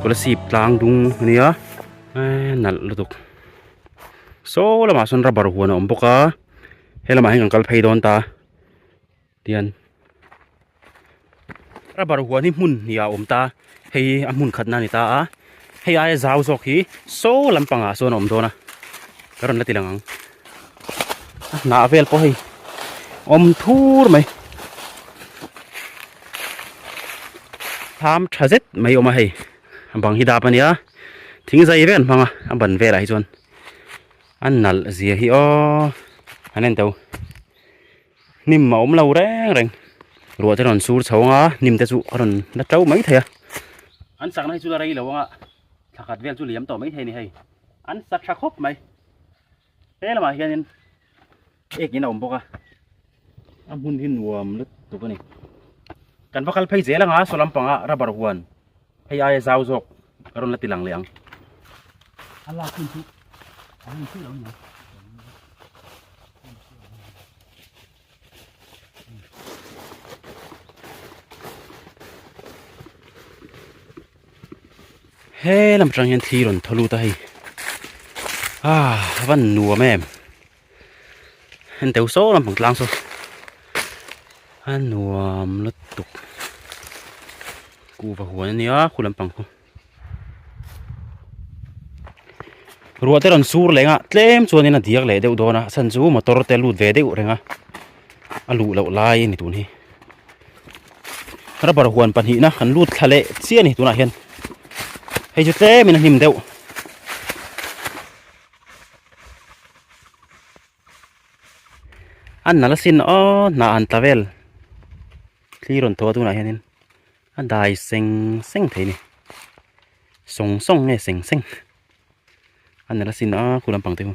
khula sip tlang dung a nia eee nalh lutuk saw lamah sawn rubber huan a awm bawk a helamah hian kan kal phei dawn ta tihian rubber huan hi hmun hnih ah a awm ta hei hi a hmun khatna a ni ta a hei aia zau zawk hi saw lampang ah sawn a awm dawn a ka rawn la ti lang ang a hnah vel pawh hei awm thur mai. Hâm ṭha zet mai a awm a hei a bang hi dâp a nia thing zai ve an hmang a a ban vêlah hi chuan a nalh zia hi aww a nen tho hnim a awm lo reng reng ruah te rawn sur chho anga hnim te chu a rawn la ṭo mai thei a an sakna hi chu la rei lo anga thla khat vêl chu liam tawh mai thei a ni hei an sak ṭha khawp mai he lamah hianin. ek in a awm bawk a a hmun hi nuam lutuk a ni kan va kal phei zel anga saw lampanga rubber huan hei aia zau zawk ka rawn la ti lang leh ang a lak hmun chu a hmun chu lo ni he lam tang hian thli rawn thaw lut a hei a van nuam em heng deuh sâwk lampang tlâng saw a nuam lutuk kuh va huan a nia khua lampang khaw ruah te rawn sûr lêngah tlêm chuanin a diak leh deuh dâwn a a chhan chu motor te lût ve deuh reng a a luh loh lai a ni tûn hi rubber huan pahnihna kan lût thla leh chiah a ni tunah hian hei chu tlêmin a hlim deuh. a nalh a sin aw hna an ta vel thli rawn thaw a tunah hianin a dai seng seng thei a ni sawng sawng nge seng seng a nalh a sin a khulampang te chu.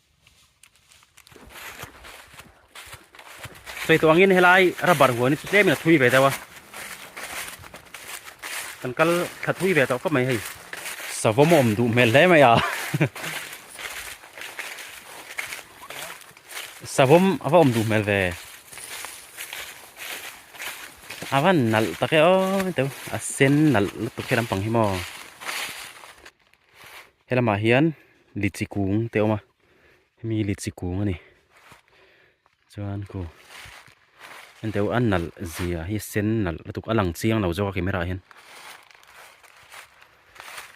Sawi tawh angin helai rubber huan chu tlemin a thui ve deuh a kan kal thla thui ve tawh khawp mai hei savawm a awm duh hmel hle mai a savawm a va awm duh hmel ve a va nalh tak e aw ni tawh a sen nalh lutuk hi lampang hi maw helamah hian litchi kung te a awm a hemi hi litchi kung a ni chuan kû henteu a nalh zia hi a sen nalh lutuk a lang chiang lo zâwk a camera ah hian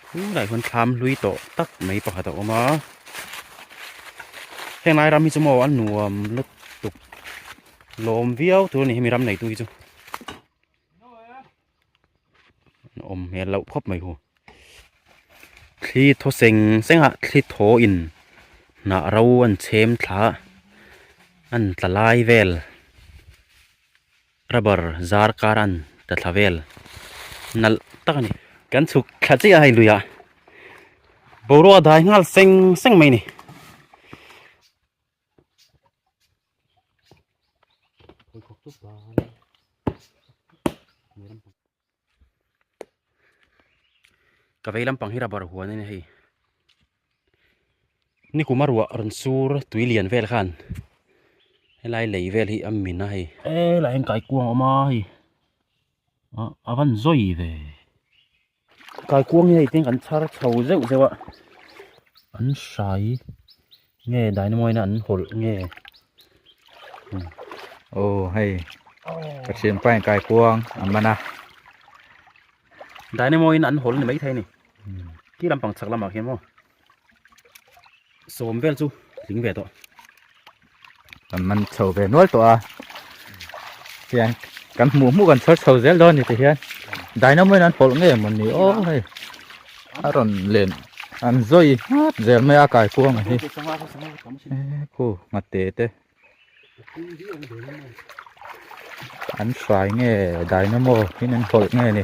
tunah hian thâm hlui tawh tak mai pakhat a awm a hêngai ram hi chu maw a nuam lutuk lâwm viau tûr a ni hemi ram neitû hi chu. an awm hmel loh khawp mai ho thli thaw seng seng ah thli thaw in hnah ro an chhem thla a an tla lai vel rubber zar kar a an ta thla vel nalh tak a ni kan chhuk thla chiah a hei lui ah boruak a dai nghal seng seng mai a ni. Ka vei lampang hi rubber huan a nia hei nikuma ruah rawn sur tui lian vel khan helai lei vel hi a min a hei a laia hian kaikuang a awm a hei a van zawi ve. Kalkuang nge i tin kan chhar chho zeuh zeuh a, an hrai nge dynamite-a an hawlh nge aw hei ka thiam pai ang kaikuang a man a dynamite-in an hawl ni maithei a ni khi lampang chhak lamah khian maw. sawm vel chu tling ve tawh kan man chho ve nual tawh a hian kan hmuh hmuh kan chhar chho zel dawn ni ti hian dynamo in an pawlh nge maw ni aw hei a rawn len an zawi ngap zel mai a kai kuang a hi khu nghat te te an fai nge dynamo in an pawlh nge ni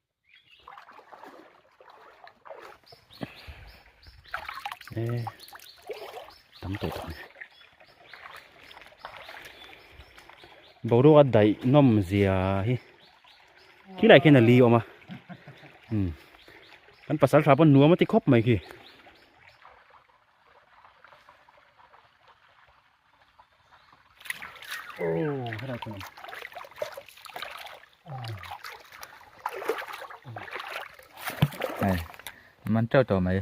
ê tam tawh tak nia boruak a daih nawm zia hi khi lai khian a li awm a kan pasal tha pawh nuam ati khawp mai khi man teuh teuh mai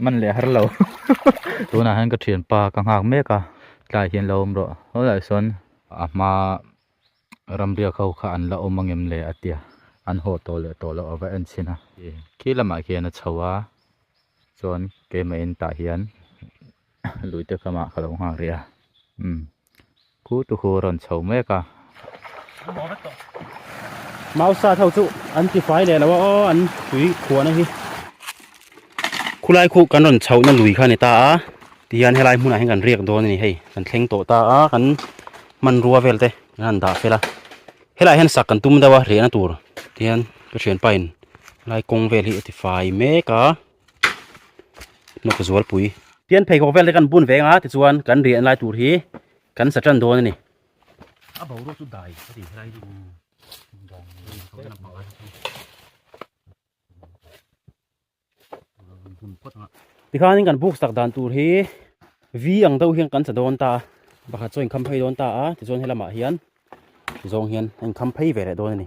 man leh har lo tunah hian ka thianpa ka nghak mek a tlaiah hian lo awm rawh hawlaiah sawn a hma-- Ram biak ho kha an la awm angem le a tia an haw tawh leh tawh loh a va en chhin a. Khi lamah khian a chho a, chuan keimah in tah hian luite ka mah ka lo nghak rih a, umm khu tu khu a rawn chho mek a. Mausa't ho chu an tifai leh lo a aw an tui khuana hi. Khulai khuh kan rawn chhohna lui kha a ni ta a, tihian helai hmunah hian kan riak dawn a ni hei, kan thleng tawh ta a, kan hmanrua vel te kan han dah fel a helaiah hian sak kan tum deuh a rehna tur hian ka thianpa in helai kawng vel hi a tifai mek a hnawk zualpui pian pheikhawk vel te kan bun ve ang a tichuan kan riahna lai tur hi kan sa tan dawn a ni a boruak chu dai ka ti helai chu tikhanin kan buk sak dan tur hi v ang deuh hian kan chhe dawn ta pakhat chu a inkham phei dawn ta a tichuan he lamah hian ti zawng hian a inkham phei ve leh dawn a ni.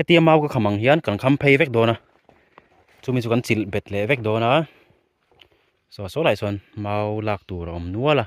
hetiang mau ka kham ang hian kan kham phei vek dawn a chumi chu kan chilh bet leh vek dawn a chhuah saw lah chuan mau lak tur a awm nual a.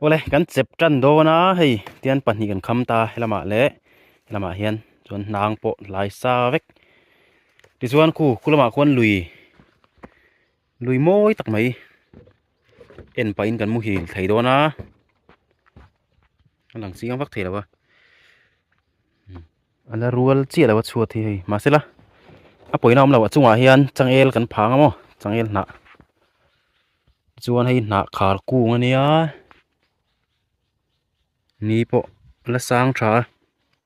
awle kan chep tan dawn a hei tian pahnih kan kham ta he lamah leh he lamah hian chuan hnang pawh hlai sa vek tichuan khu khulama khuan lui. lui mawi tak mai en pah in kan muhil thei dawn a a lang chiang vak thei lo a ala rual chiah lo a chhuat hi hei mahse la a pawina awm lo a chungah hian changel kan phang a maw changel hnah chuan hei hnah khar kung a nia ni pawh la sang tha a.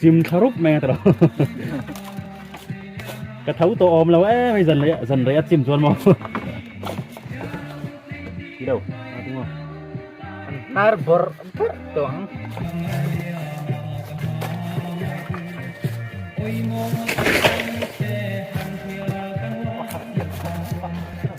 chim thla rup mai ata lo ka tho tawh awm lo em hei zan reia zan reia chim chuan maw ti đâu a ti maw har bor bor to ang Thank you.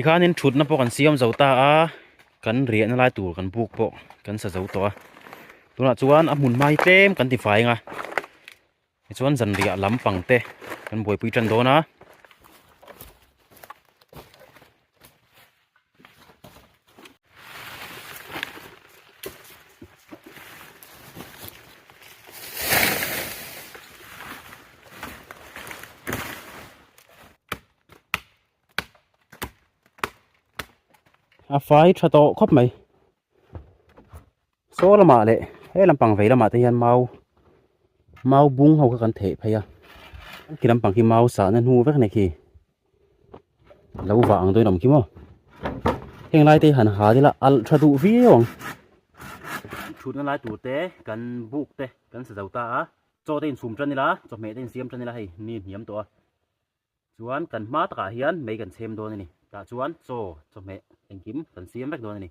tikhanin thutna pawh kan siam zo ta a kan riahna lai tur kan buk pawh kan sa zo tawh a tunah chuan a hmunhma hi tlem kan tifai ang a. Tichuan zanriah lam pangte kan buaipui tan dawn a. A fai tha tawh khawp mai. Saw lamah leh he lampang vei lamah te hian mau mau bung ho kha kan thei phei a khi lampang khi mau sahna hnu vek nei khi lo vah ang dawn awm khi maw heng lai te han hal ila alh tha duh viau ang thutna lai tur te kan buk te kan sa zo ta a chaw te in chhum tan ila chawhmeh te in siam tan ila hei ni in hniam tawh a chuan kan hma takah hian mei kan chhem dawn a ni tah chuan chaw chawhmeh engkim kan siam vek dawn a ni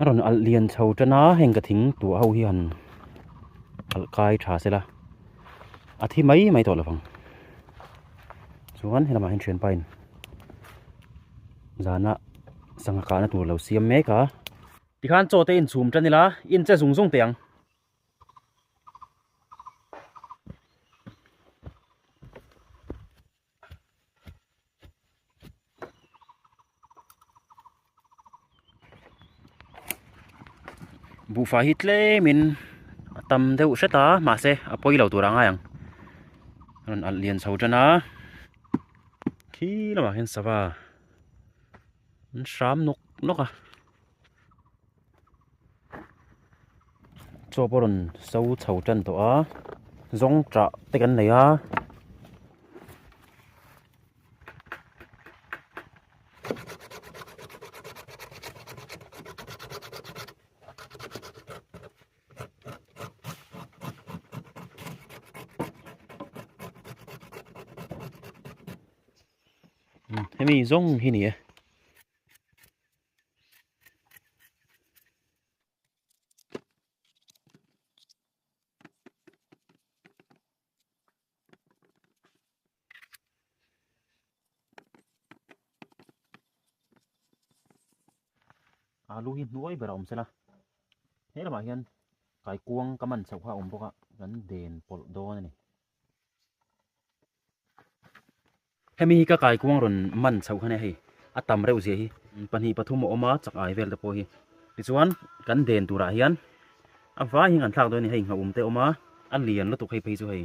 a rawn alh lian chho tan a heng ka thing tûah ho hi han alh kai ṭha se la a thi mai mai tawh lo vang chuan he lamah hian ṭhian pain zana sangha kahna tûr lo siam mêk a. Tikhan chaw te in chhum tan ila in che zung zung te ang. Bufa hi tlem in tam deuh hret a mahse a poi lo tur angai ang. Ron al lian chho tan a. Khi lamah hian sava. An hram nok nok a. chaw pawh rawn so chho tan tawh a zawng tah te kan nei a hemi zawng hi ni e. alu hi hnuai ber a awm sela he lamah hian kaikuang ka man chauh kha a awm bawk a kan den pawlh dawn a ni. Hemi hi ka kaikuang rawn man chhoh khan a hei a tam reuh zia hi pahnih pathum a awm a chak ai vel te pawh hi tichuan kan den turah hian a vai hian kan thlak dawn a ni hei nghahum te a awm a a lian lutuk hei phei chu hei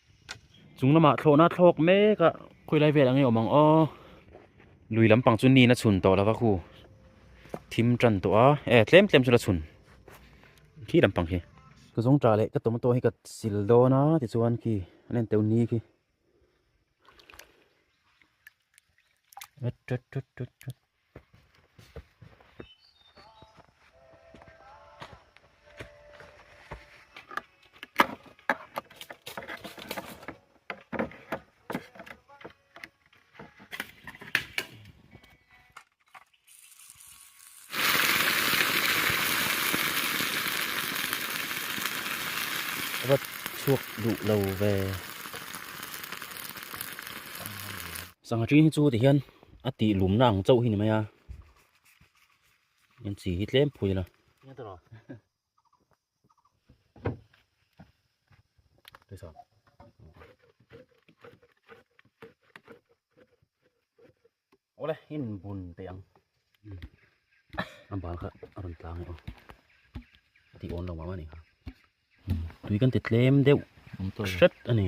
chunglama thlawhna a thlawk mek a khawilai vel ange awm ang aw lui lampang chu nin a chhun tawh lova khu thim tan tawh a e tlem tlem chu la chhun khi lampang khi ka zawngta leh ka tomato hi ka sil dawn a tichuan khi an en teuh ni khi chhuak duh lo ve sangha ṭi chu tihian. a tih lumna ang chauh hi ni mai a in chi hi tlem phui la ole in bun te ang an bang kha aron tlang e ti on lo ma ni ha tui kan te tlem deuh hret ani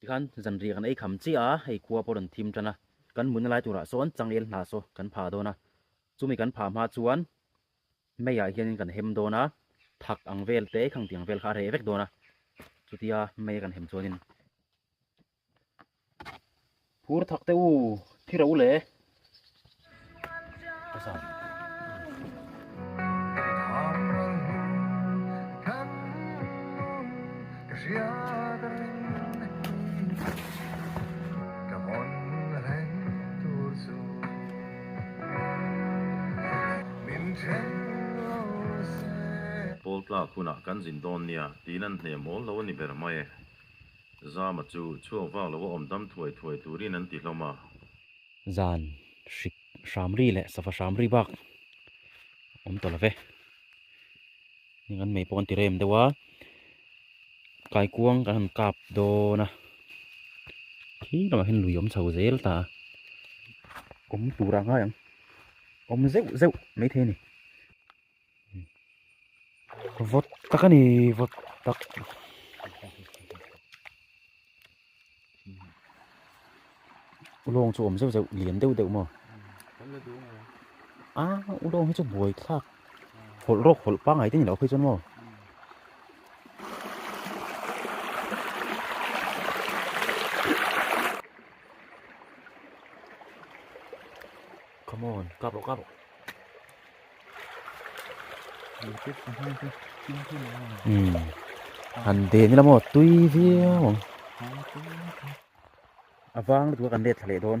Tikhan zanriah kan ei kham chiah a, hei khua pawh a rawn thim tan a, kan mutna lai turah sawn changel hna saw kan pha dawn a, chumi kan pha hma chuan May ah hianin kan hem dawn a, thak ang vel te khangti ang vel kha a reh vek dawn a, chutia May a kan hem chuanin Phur thak te u thi ro le. Pawl tlak hunah kan zin dawn nia tiin an hne mawl lo a ni ber mai e. Zama chu chhuak vak lo a awmdam thuai thuai turin an ti hlawm a. Zan hrik hram ri leh sava hram ri bak awm tawh love. Heng an mei pawh an ti rem deuh a. Kaikuang kan han kap dawn a. Khi lamah hian lui awm chho zel ta a. Awm tur ang ngai ang. Awm zeuh zeuh maithei a ni. vawt tak a ni vawt tak ulawng chu awm zeuh zeuh lian deuh deuh maw a ulawng hi chu buai thlak hawlh rawk hawlh pangai te ni loh pawh chuan maw Come on, kah rawh, kah rawh. Hmm. Han de ni lamaw tui viau. Avang tu kan let leh don.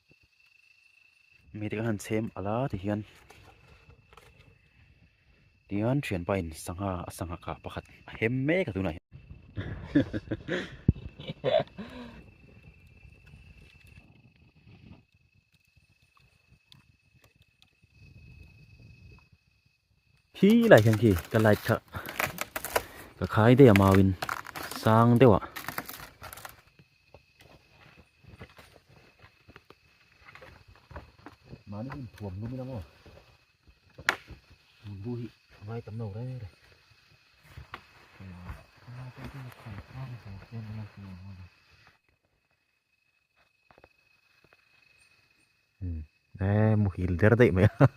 mi te kan han chhem alh a ti hian tihian thianpa in sangha a sangha kah pakhat a hem mek a tunah hian Khi lai hian khi ka light kha ka khai daih a mau in sang deuh ah mani in thuam lum in amaw bu hi vai tam lo re re Hmm. Eh, muhil der daih mai a.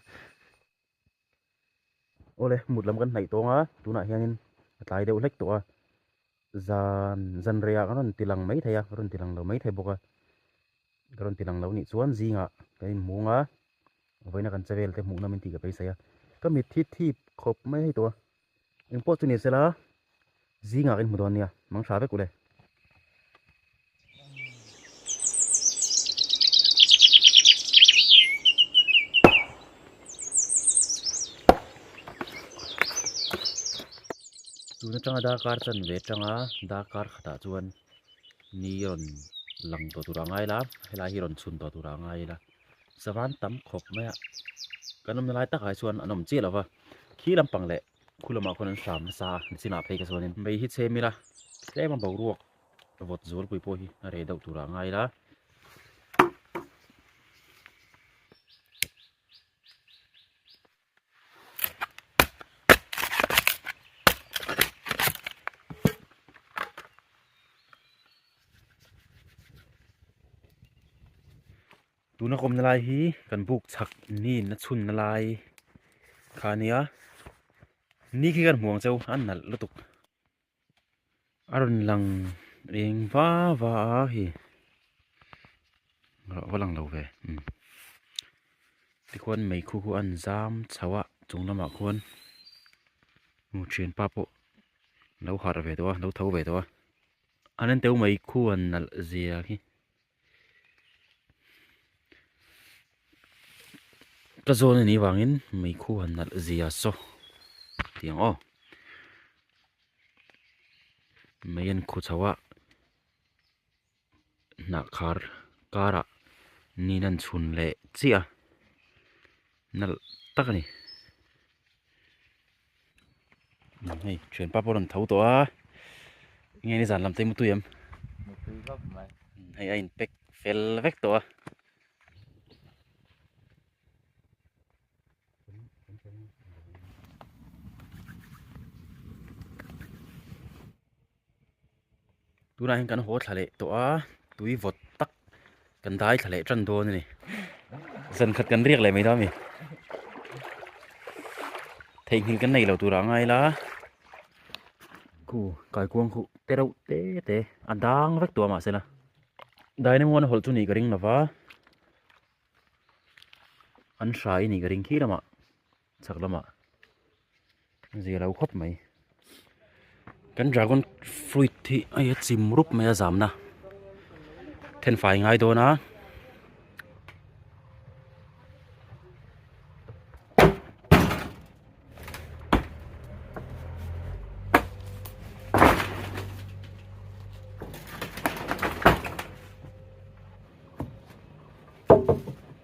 awle hmut lam kan hnaih tawng a tunah hianin a tlai deuh hlek tawh a zan zanriah ka rawn ti lang mai thei a ka rawn ti lang lo mai thei bawk a ka rawn ti lang lo nih chuan zingah kan inhmung a vawiina kan che vel te hmuhnawm in tih ka beisei a ka mitthi thip khawp mai tawh a. eng pawh chu ni sela zingah kan hmu dawn nia mang tha vek ule. tuna changa dakar chan ve changa dakar khata chuan ni rawn lang tawh tur a ngai la helai hi rawn chhun tawh tur a ngai la. sava an tam khawp mai a kan awmna lai takah hi chuan an awm chiah lo va khi lampang leh khu lamah khuan an hram nasa a an sinah phei ka chuan in mei hi chhem ila tlema boruak vawt zual pui pawh hi a reh deuh turah a ngai ila tuna kawmna lai hi kan buk chak niin a chhunna lai kha nia ni khi kan hmuh ang chu a nalh lutuk. a rawn lang eng va va a hi a va lang lo ve um tichuan mei khu khu an zam chho a chung lamah khuan hmu thian pa pawh lo harh ve tawh a lo tho ve tawh a an en teuh mai khu an nalh zia khi. Ka zawn a nih vangin mei khu han nalh zia saw ti ang aw. Mei an khu chho a, hnah khar karah niin an chhun leh chiah a, nalh tak a ni. Eng hei thianpa pawh a rawn tho tawh a, eng nge ni zan lam te mutui em? Mutui vak mai. Hei a in pack fel vek tawh a. tunah hian kan haw thla leh tawh a tui vawt tak kan dai thla leh tan dawn a ni zan khat kan riak leh mai dawn a ni theihnghilh kan neilo tur ah a ngai la khu kaikuang khuh te reuh te te a dang vek tawh a mahse la dainamu an hawlh chu nih ka ring lova an hrai a nih ka ring khi lamah. chhak lama zia lo khawp mai kan dragon fruit hi a ia chim rup mai a zamna then fai ngai dawn a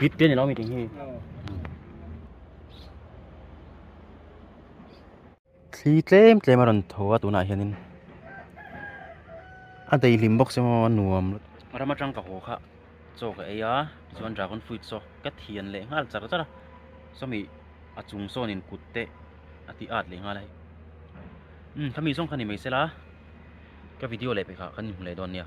Vit te ni lo mi ting hi. Thli tlem tlem a rawn tho a tunah hianin. A dei hlim bawk se maw a nuam. Ramachang ka haw kha chaw ka ei a tichuan dragon fruit chaw ka thian leh nghal char char a. Chumi a chung sawn in kut te a ti at leh nghal a. Umm khami zawng kha ni mai se la ka video leh pe kha kan inhmu leh dawn nia.